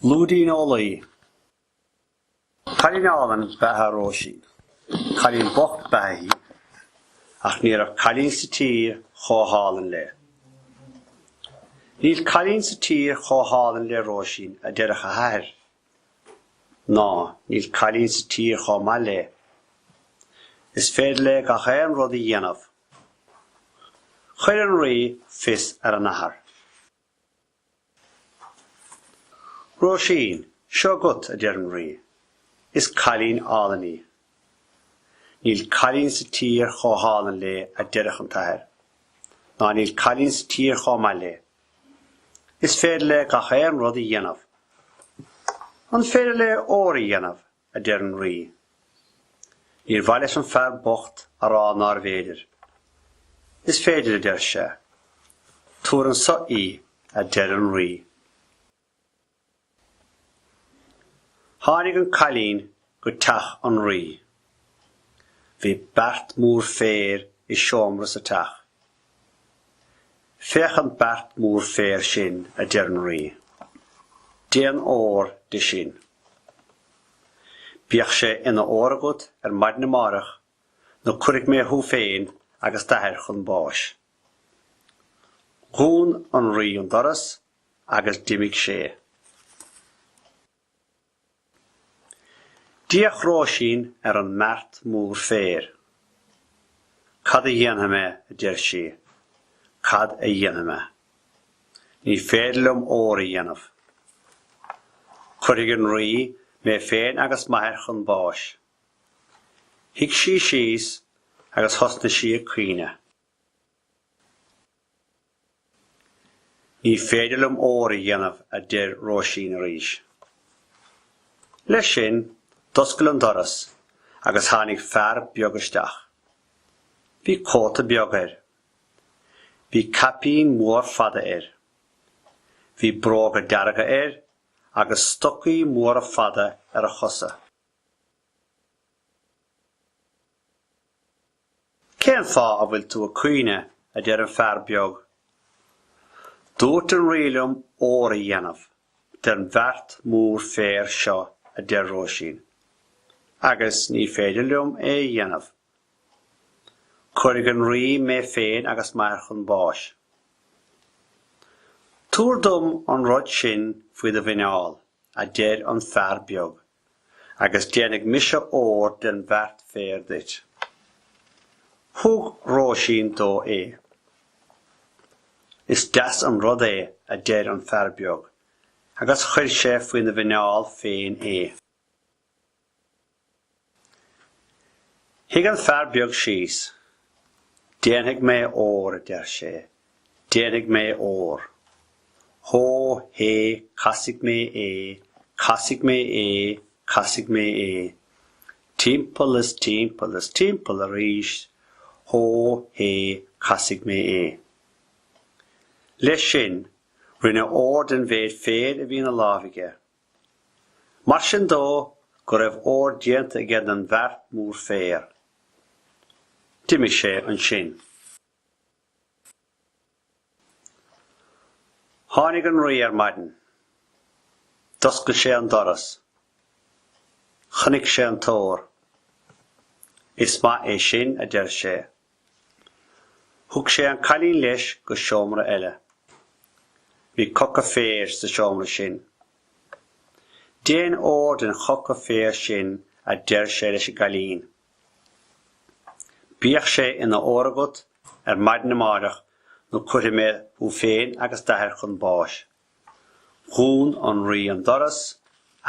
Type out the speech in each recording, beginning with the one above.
Lúidín ó Laoi. Cailín álainn ba ea Róisín. Cailín bocht ba ea í. Ach ní raibh cailín sa tír chomh hálainn léi. Níl cailín sa tír chomh hálainn le Róisín, a deireadh a hathair. Ná níl cailín sa tír chomh maith léi. Is féidir léi gach aon rud a dhéanamh. Chuir an Rí fios ar an athair. Róisín seo agat, a deir an Rí. Is cailín álainn í. Níl cailín sa tír chomh hálainn léi, a deireadh an t-athair. Ná níl cailín sa tír chomh maith léi. Is féidir léi gach aon rud a dhéanamh. An féidir léi ór a dhéanamh? a deir an Rí. Níor mhaith leis an bhfear bocht a rá nárbh fhéidir. Is féidir, a deir sé. Tabhair anso í, a deir an Rí. Tháinig an cailín go teach an Rí. Bhí beart mór féir i seomra sa teach. Féach an beart mór féir sin, a deir an Rí. Déan ór de sin. Bíodh sé ina ór agat ar maidin amárach nó cuirfidh mé thú féin agus d'athair chun báis. Dhún an Rí an doras agus d'imigh sé. D'fhéach Róisín ar an mbeart mór féir. Cad a dhéanfaidh mé, a deir sí. Cad a dhéanfaidh mé. Ní féidir liom ór a dhéanamh. Cuirfidh an Rí mé féin agus m'athair chun báis. Shuigh sí síos agus thosnaigh sí ag caoineadh. Ní féidir liom ór a dhéanamh, a deir Róisín arís. Leis sin, d'oscail an doras agus tháinig fear beag isteach. Bhí cóta beag air. Bhí caipín mór fada air. Bhí bróga dearga air agus stocaí móra fada ar a chosa. Cén fáth a bhfuil tú ag caoineadh, a deir an fear beag. Dúirt an Rí liom ór a dhéanamh den bheart mór féir seo, a deir Róisín, agus ní féidir liom é a dhéanamh. Cuirfidh an Rí mé féin agus m'athair chun báis. Tabhair dom an rud sin faoi do mhuineál, a deir an fear beag. agus déanfaidh mise ór den bheart féir duit. Thug Róisín dó é. Is deas an rud é, a deir an fear beag, agus chuir sé faoina mhuineál féin é. Shuigh an fear beag síos. Déanfaidh mé ór, a deir sé, Déanfaidh mé ór. Hó hé casfaidh mé é, casfaidh mé é, casfaidh mé é. Timpeall is timpeall is timpeall arís, hó hé casfaidh mé é. Leis sin, rinne ór den mhéid féir a bhí ina láimh aige. Mar sin dó go raibh ór déanta aige den bheart mór féir. D'imigh sé ansin. Tháinig an Rí ar maidin. D'oscail sé an doras. Chonaic sé an t-ór. Is maith é sin, a deir sé. Thug sé an cailín leis go seomra eile. Bhí coca féir sa seomra sin. Déan ór den choca féir sin, a deir sé leis an gcailín. Bíodh sé ina ór agat ar maidin amáireach nó cuirfidh mé thú féin agus d'athair chun báis. Dhún an Rí an doras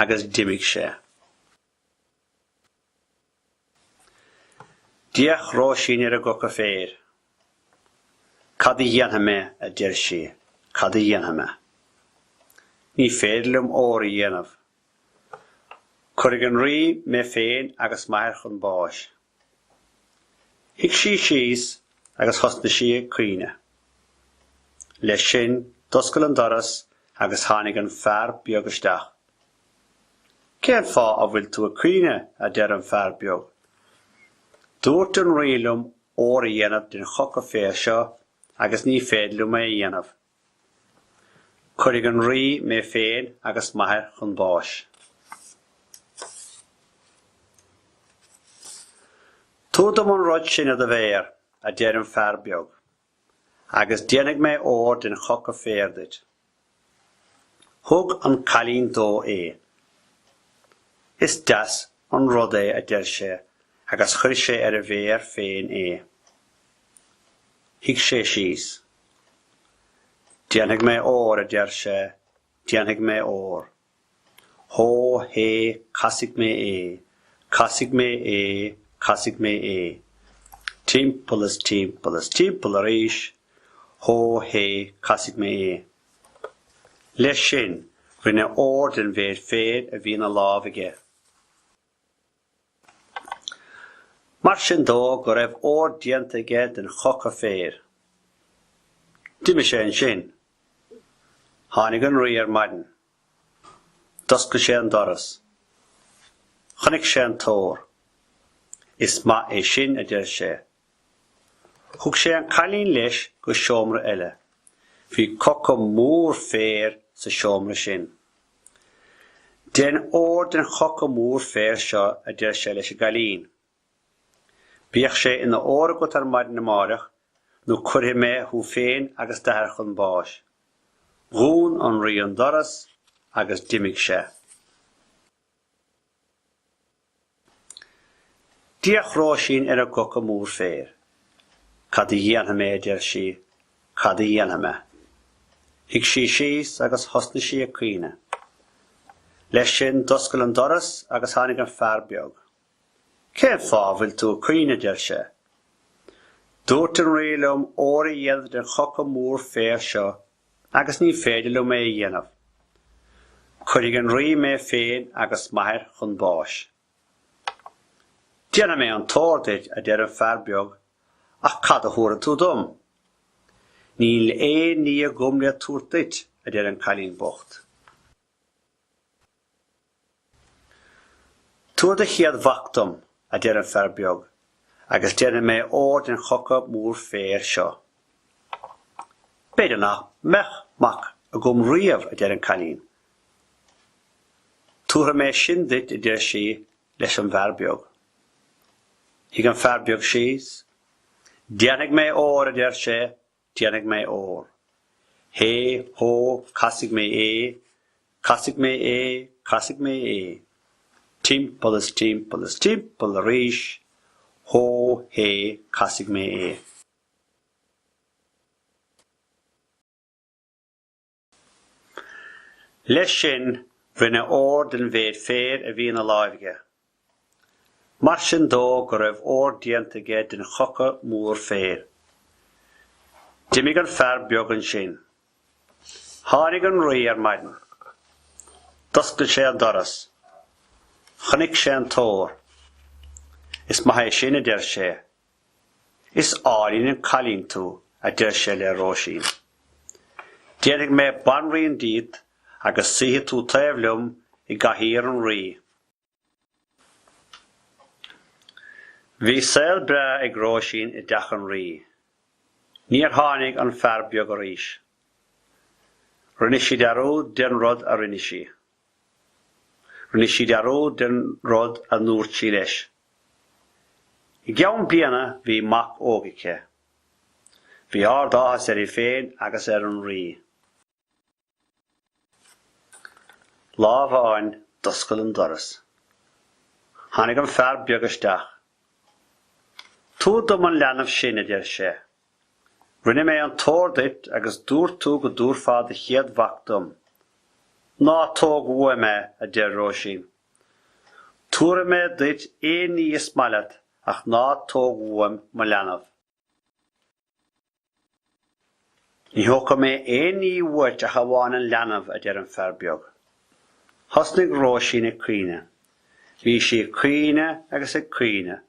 agus d'imigh sé. D'fhéach Róisín ar an gcoca féir. Cad a dhéanfaidh mé, a deir sí, cad a dhéanfaidh mé. Ní féidir liom ór a dhéanamh, Cuirfidh an Rí mé féin agus m'athair chun báis. Shuigh sí síos agus thosnaigh sí ag caoineadh. Leis sin, d'oscail an doras agus tháinig an fear beag isteach. Cén fáth a bhfuil tú ag caoineadh, a deir an fear beag. Dúirt an Rí liom ór a dhéanamh den choca féir seo agus ní féidir liom é a dhéanamh. Cuirfidh an Rí mé féin agus m'athair chun báis. Tabhair dom an rud sin ar do mhéar, a deir an fear beag, agus déanfaidh mé ór den choca féir duit. Thug an cailín dó é. Is deas an rud é, a deir sé, agus chuir sé ar a mhéar féin é. Shuigh sé síos. Déanfaidh mé ór, a deir sé, déanfaidh mé ór. Hó hé, casfaidh mé é, casfaidh mé é, casfaidh mé é. Timpeall is timpeall is timpeall arís. Hó hé, casfaidh mé é. Leis sin, rinne ór den mhéid féir a bhí ina lámh aige. Mar sin dó go raibh ór déanta aige den choca féir. D'imigh sé ansin. Tháinig an Rí ar maidin. D'oscail sé an doras. Chonaic sé an t-ór. Is maith é sin, a deir sé. Thug sé an cailín leis go seomra eile. Bhí coca mór féir sa seomra sin. Dein ór den choca mór féir seo, a deir sé leis an gcailín. Bíodh sé ina ór agat ar maidin amáireach nó cuirfidh mé thú féin agus d'athair chun báis. Dhún an Rí an doras agus d'imigh sé. D'fhéach Róisín ar an gcoca mór féir. Cad a dhéanfaidh mé, a deir sí, cad a dhéanfaidh mé? Shuigh sí síos agus thosnaigh sí ag caoineadh. Leis sin, d'oscail an doras agus tháinig an fear beag. Cén fáth a bhfuil tú ag caoineadh, a deir sé. Dúirt an Rí liom ór a dhéanamh den choca mór féir seo agus ní féidir liom é a dhéanamh. Cuirfidh an Rí mé féin agus m'athair chun báis. Déanfaidh mé an t-ór duit, a deir an fear beag, ach cad a thabharfaidh tú dom? Níl aon ní agam le tabhairt duit, a deir an cailín bocht. Tabhair do chéad mhac dom, a deir an fear beag, agus déanfaidh mé ór den choca mór féir seo. B'fhéidir nach mbeadh mac agam riamh, a deir an cailín. Tabharfaidh mé sin duit, a deir sí leis an bhfear beag. Shuigh an fear beag síos. Déanfaidh mé ór, a deir sé, déanfaidh mé ór. Hé, hó, casfaidh mé é, casfaidh mé é, casfaidh mé é. Timpeall is timpeall is timpeall arís. Hó, hé, casfaidh mé é. Leis sin, rinne ór den mhéid féir a bhí ina láimh aige. Mar sin dó go raibh ór déanta aige den choca mór féir. D'imigh an fear beag ansin. Tháinig an Rí ar maidin. D'oscail sé an doras. Chonaic sé an t-ór. Is maith é sin, a deir sé, 'Is álainn an cailín tú, a deir sé le Róisín. 'Déanfaidh mé banríon díot agus suífidh tú taobh liom i gcathaoir an rí. Bhí saol breá ag Róisín i dteach an rí. Níor tháinig an fear beag arís. Rinne sí dearúd den rud a rinne sí. Rinne sí dearúd den rud a dúirt sí leis. I gceann bliana bhí mac óg aici. Bhí ard-áthas uirthi féin agus ar an Rí. Lá amháin d'oscail an doras. Tháinig an fear beag isteach. Tabhair dom an leanbh sin, a deir sé. Rinne mé an t-ór duit agus dúirt tú go dtabharfá do chéad mhac dom. Ná tóg uaim é, a deir Róisín. Tabharfaidh mé duit aon ní is maith leat ach ná tóg uaim mo leanbh. Ní thógfaidh mé aon ní uait ach amháin an leanbh, a deir an fear beag. Thosnaigh Róisín ag caoineadh. Bhí sí ag caoineadh agus ag caoineadh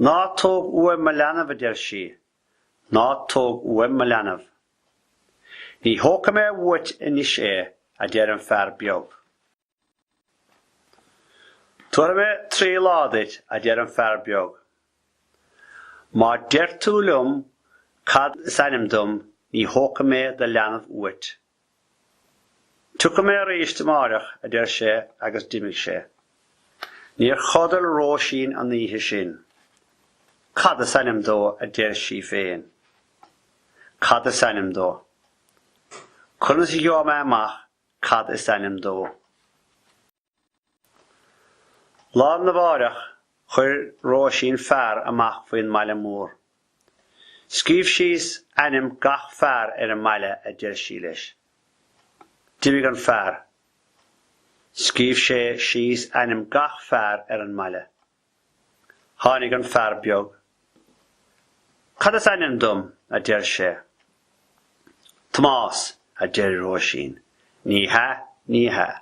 Ná tóg uaim mo leanbh, a deir sí, ná tóg uaim mo leanbh. Ní thógfaidh mé uait anois é, a deir an fear beag. Tabharfaidh mé trí lá duit, a deir an fear beag. Má deir tú liom cad is ainm dom ní thógfaidh mé do leanbh uait. Tiocfaidh mé aríst amáireach, a deir sé agus d'imigh sé. Níor chodail Róisín an oíche sin. Cad is ainm dó? a deir sí féin. Cad is ainm dó? Conas a gheobhaidh mé amach cad is ainm dó? Lá arna mháireach, chuir Róisín fear amach faoin mbaile mór. Scríobh síos ainm gach fear ar an mbaile, a deir sí leis. D'imigh an fear. Scríobh sé síos ainm gach fear ar an mbaile. Tháinig an fear beag. Cad is ainm dom? a deir sé. Tomás, a deir Róisín. Ní hea, ní hea.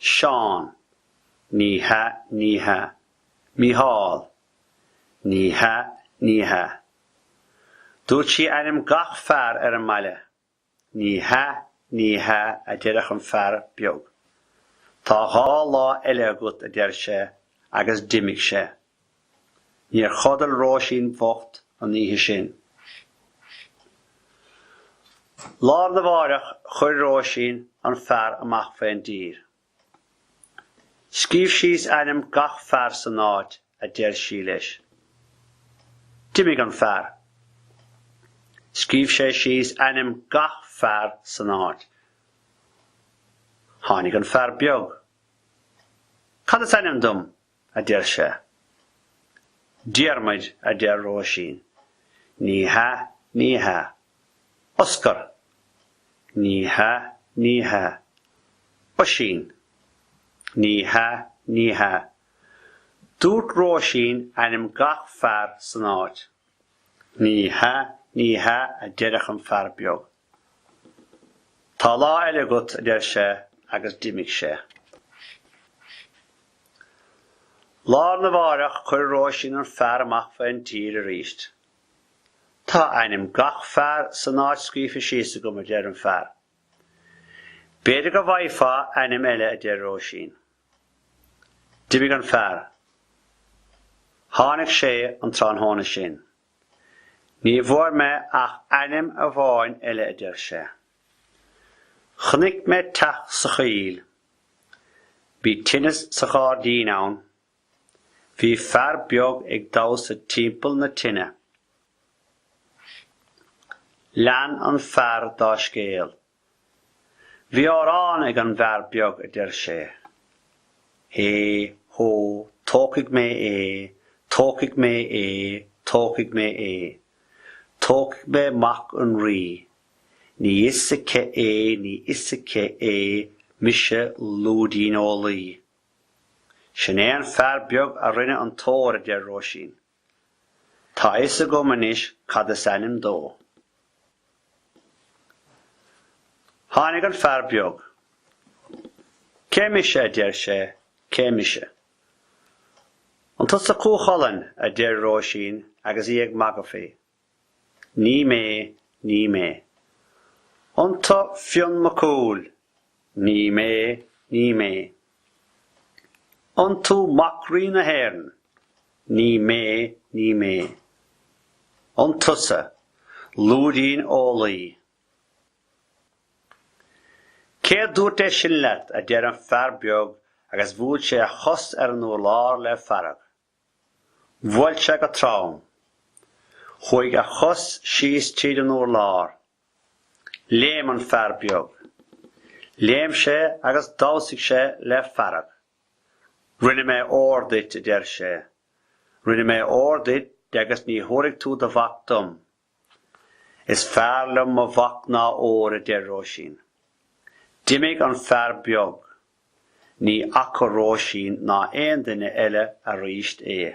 Seán. Ní hea, ní hea. Mícheál. Ní hea, ní hea. Dúirt sí ainm gach fear ar an mbaile. Ní hea, ní hea, a deireadh an fear beag. Tá dhá lá eile agat, a deir sé, agus d'imigh sé. Níor chodail Róisín bhocht an oíche sin. Lá arna mháireach chuir Róisín an fear amach faoin dtír. Scríobh síos ainm gach fear san áit, a deir sí leis. D'imigh an fear. Scríobh sé síos ainm gach fear san áit. Tháinig an fear beag. Cad is ainm dom? a deir sé. Diarmaid, a deir Róisín. Ní hea, ní hea. Oscar! Ní hea, ní hea. Oisín! Ní hea, ní hea. Dúirt Róisín ainm gach fear san áit. Ní hea, ní hea, a deireadh an fear beag. Tá lá eile agat, a deir sé, agus d'imigh sé. Lá arna mháireach chuir Róisín an fear amach faoin tír arís. Tá ainm gach fear san áit scríofa síos agam, a deir an fear. B'fhéidir go bhfaighfeá ainm eile, a deir Róisín. D'imigh an fear. Tháinig sé an tráthnóna sin. Ní bhfuair mé ach ainm amháin eile, a deir sé. Chonaic mé teach sa choill. Bhí tine sa ghairdín ann. Bhí fear beag ag damhsa timpeall na tine. Lean an fear dá scéal. Bhí amhrán ag an bhfear beag a deir sé, Hé, hó, tógfaidh mé é, tógfaidh mé é, tógfaidh mé é. Tógfaidh mé Mac an Rí. Ní fios aici é, ní fios aici é, mise Lúidín Ó Laoi. Sin é an fear beag a rinne an t-ór, a deir Róisín. Tá a fhios agam anois cad is ainm dó. Tháinig an fear beag. Cé mise, a deir sé, cé mise? An tusa Cú Chulainn, a deir Róisín agus í ag magadh faoi. Ní mé, ní mé. An tú Fionn Mac Cumhaill? Ní mé, ní mé. An tú Mac Rí na hÉireann? Ní mé, ní mé. An tusa Lúidín Ó Laoi? Cé a dúirt é sin leat, a deir an fear beag agus bhuail sé a chos ar an urlár le fearg. Bhuail sé go trom. Chuaigh a chos síos tríd an urlár. Léim an fear beag. Léim sé agus dhamhsaigh sé le fearg. Rinne mé ór duit, a deir sé. Rinne mé ór duit agus ní thabharfaidh tú do mhac dom. Is fearr liom mo mhac ná ór, a deir Róisín. D'imigh an fear beag. Ní fhaca Róisín ná aon duine eile arís é.